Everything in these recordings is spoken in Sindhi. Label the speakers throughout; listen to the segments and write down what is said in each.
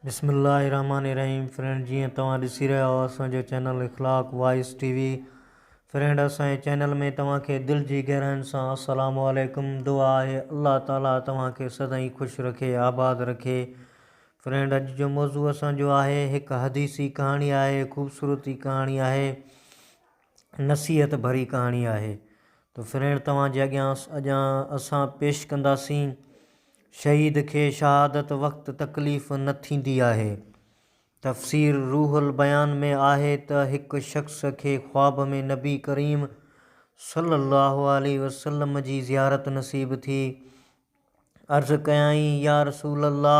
Speaker 1: بسم الله الرحمٰن الرحيم فرينڊ جيئن توهان ڏسي رهيا آهيو اسان جو channel Akhlaq voice T V friend اسان جي چينل ۾ توهان کي دل جي گهراين سان السلام عليڪم دعا آهي الله تعالي توهان کي سدائين خوش رکي آباد رکي فرينڊ اڄ جو موضوع اسان جو آهي هڪ حديثي ڪهاڻي آهي خوبصورتي ڪهاڻي آهي نصيحت ڀري ڪهاڻي آهي ته فرينڊ توهان جي اڳيان اڄان اسان پيش ڪنداسين شهيد کي شهادت وقت تڪليف نه ٿيندي آهي تفسير روح البيان ۾ آهي ته هڪ شخص کي خواب ۾ نبي ڪريم صلي الله عليه وسلم جي زيارت نصيب ٿي عرض ڪيائين يا رسول الله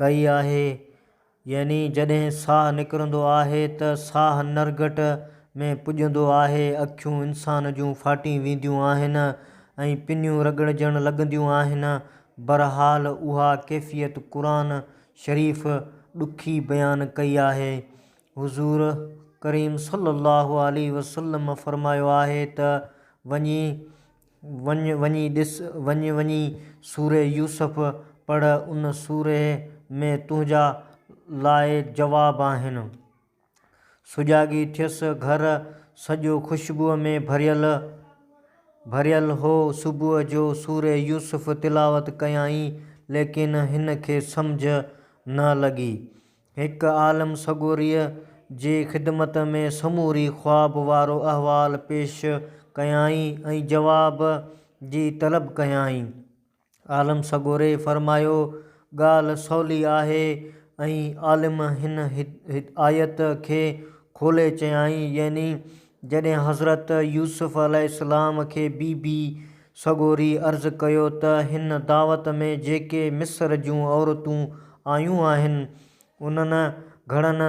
Speaker 1: ڪئي آهي يعني جڏهن ساهه نڪرندو آهي ته ساهه نرگٽ ۾ پڄندو آهي اکيون انسان جون ڦاٽي وينديون آهن ۽ پنيون رڳڙجڻ لڳنديون آهن برحال اها ڪيفيت قرآن شريف ڏکي بيان ڪئي آهي حضور ڪريم صلي الله عليه وسلم فرمايو آهي ته وڃي وڃ وڃي ڏس، وڃ وڃي سورة يوسف پڙهه، ان سوري ۾ تنهنجا لاء جواب آهن. سجاڳي ٿيس، گهر سڄو خوشبوء ۾ ڀريل ڀريل هو، صبح جو سورة يوسف تلاوت ڪيائين، ليڪن هن کي سمجهه نه لڳي، هڪ عالم سڳوريء جي خدمت ۾ سموري خواب وارو احوال پيش ڪيائين ۽ جواب جي طلب ڪيائين. عالم سڳوري فرمايو، ڳالهه سولي آهي ۽ عالم هن آيت کي کولي چيائين يعني جڏهن حضرت يوسف عليه السلام کي بي بي سڳوري عرض ڪيو ته هن دعوت ۾ جيڪي مصر جون عورتون آيون آهن، انهن گهڻن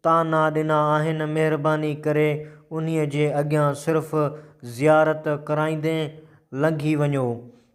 Speaker 1: طعنا ڏنا آهن، مهرباني ڪري انهيء جي اڳيان صرف زيارت ڪرائيندي لنگهي وڃو.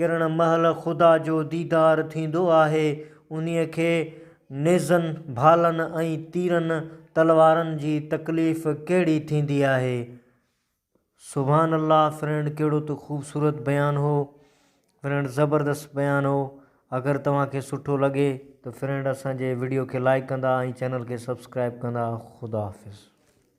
Speaker 1: ڪرڻ مهل خدا جو ديدار ٿيندو آهي، انهيء کي نيزن، ڀالن ۽ تيرن، تلوارن، جي تڪليف ڪهڙي ٿيندي آهي. سبحان الله فرينڊ ڪهڙو ته خوبصورت بيان هو فرينڊ زبردست بيان هو اگر توهان کي سٺو لڳي ته فرينڊ اسان جي وڊيو کي لائڪ ڪندا ۽ چينل کي سبسڪرائب ڪندا خدا حافظ.